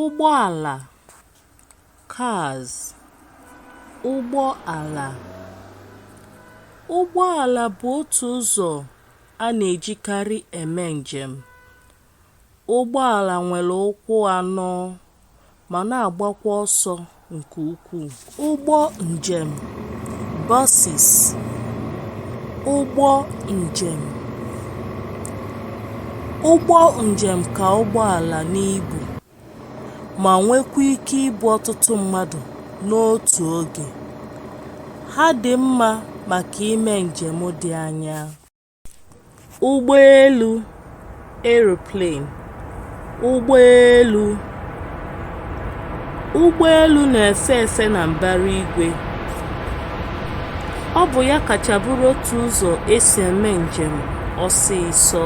ụgbọala cars ụgbọala ụgbọala bụ otu ụzọ a na-ejikarị eme njem ụgbọala nwere ụkwụ anọ ma na-agbakwa ọsọ nke ukwuu. Ụgbọ njem buses ụgbọ njem ụgbọ njem ka ụgbọala n'ibu ma nwekwa ike ibu ọtụtụ mmadụ n'otu oge. Ha dị mma maka ime njem dị anya. ụgbọelu aeroplane ụgbọelu ụgbọelu na-efe efe na mbara igwe ọ bụ ya kacha bụrụ otu ụzọ esi eme njem ọsịsọ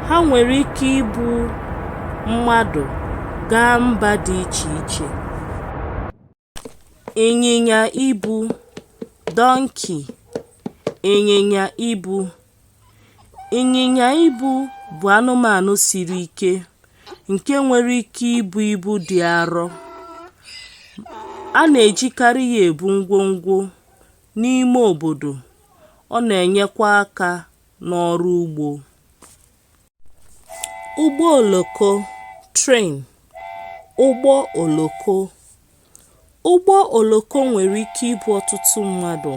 ha nwere ike ibu mmadụ gaa mba dị iche iche ịnyịnya ibu (donkey) ịnyịnya ibu ịnyịnya ibu bụ anụmanụ siri ike nke nwere ike ibu ibu dị arọ a na-ejikarị ya ebu ngwongwo n'ime obodo ọ na-enyekwa aka n'ọrụ ugbo ụgbọ oloko (train), ụgbọ oloko ụgbọ oloko nwere ike ibu ọtụtụ mmadụ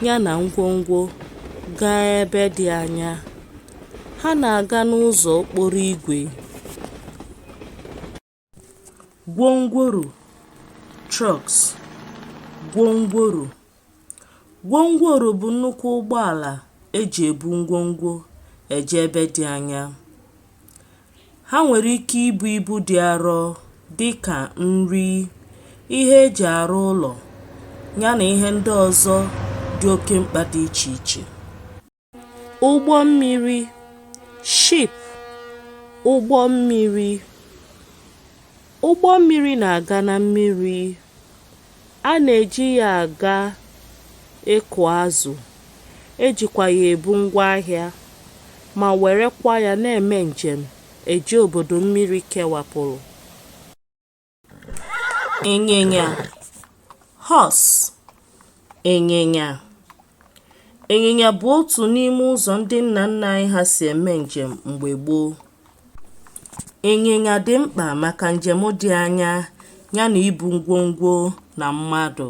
ya na ngwongwo gaa ebe dị anya ha na-aga n'ụzọ okporo igwe gwongworo trucks gwongworo gwongworo bụ nnukwu ụgbọala eji ebu ngwongwo eje ebe dị anya ha nwere ike ibu ibu dị arọ dị ka nri ihe eji arụ ụlọ ya na ihe ndị ọzọ dị oke mkpa dị iche iche ụgbọ mmiri ship ụgbọ mmiri ụgbọ mmiri na-aga na mmiri a na-eji ya aga ịkụ azụ ejikwa ya ebu ngwa ahịa ma werekwa ya na-eme njem eje obodo mmiri kewapụrụ ịnyịnya horse ịnyịnya ịnyịnya bụ otu n'ime ụzọ ndị nna nna anyị ha si eme njem mgbe gboo ịnyịnya dị mkpa maka njem dị anya ya na ibu ngwongwo na mmadụ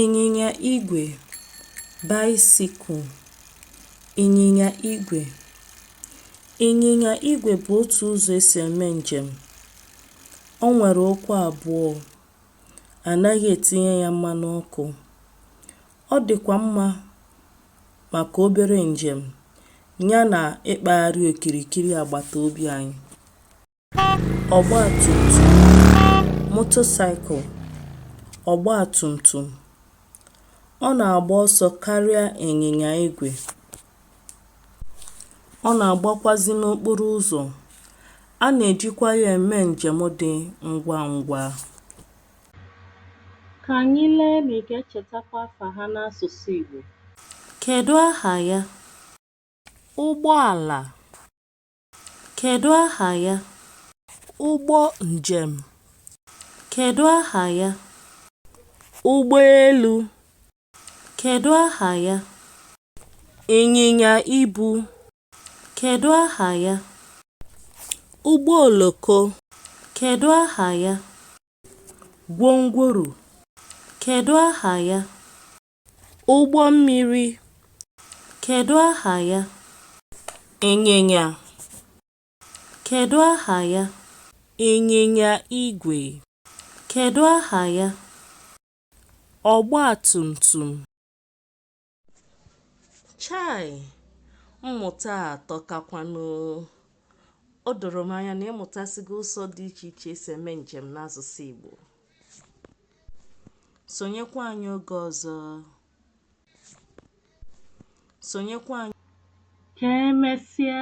ịnyịnya igwe bicycle ịnyịnya igwe ịnyịnya igwe bụ otu ụzọ e si eme njem o nwere ụkwụ abụọ anaghị etinye ya mmanụ ọkụ ọ dịkwa mma maka obere njem ya na ịkpagharị okirikiri agbata obi anyị ọgbatumtum motorcycle ọgbatumtum ọ na-agba ọsọ karịa ịnyịnya igwe ọ na-agbakwazi n'okporo ụzọ a na-ejikwa ya eme njem dị ngwa ngwa ka anyị lee ma ị ga-echetakwa afa ha n'asụsụ Igbo kedu aha ya ụgbọala Kedụ aha ya? Ụgbọ njem. Kedụ aha ya? Ụgbọelu. Kedụ aha ya? Ịnyịnya ibu. Kedụ aha ya? Ụgbọ oloko. Kedụ aha ya? Gwongworo. Kedụ aha ya? Ụgbọ mmiri. Kedụ aha ya? Ịnyịnya. Kedụ aha ya? Ịnyịnya igwe. Kedụ aha ya? Ọgba tum tum. Chai! Mmụta a atọkakwanụ. O doro m anya na ị mụtasigo ụzọ dị iche iche e si eme njem n'asụsụ Igbo. Sonyekwa anyị oge ọzọ. Sonyekwa anyị. Ka emesịa.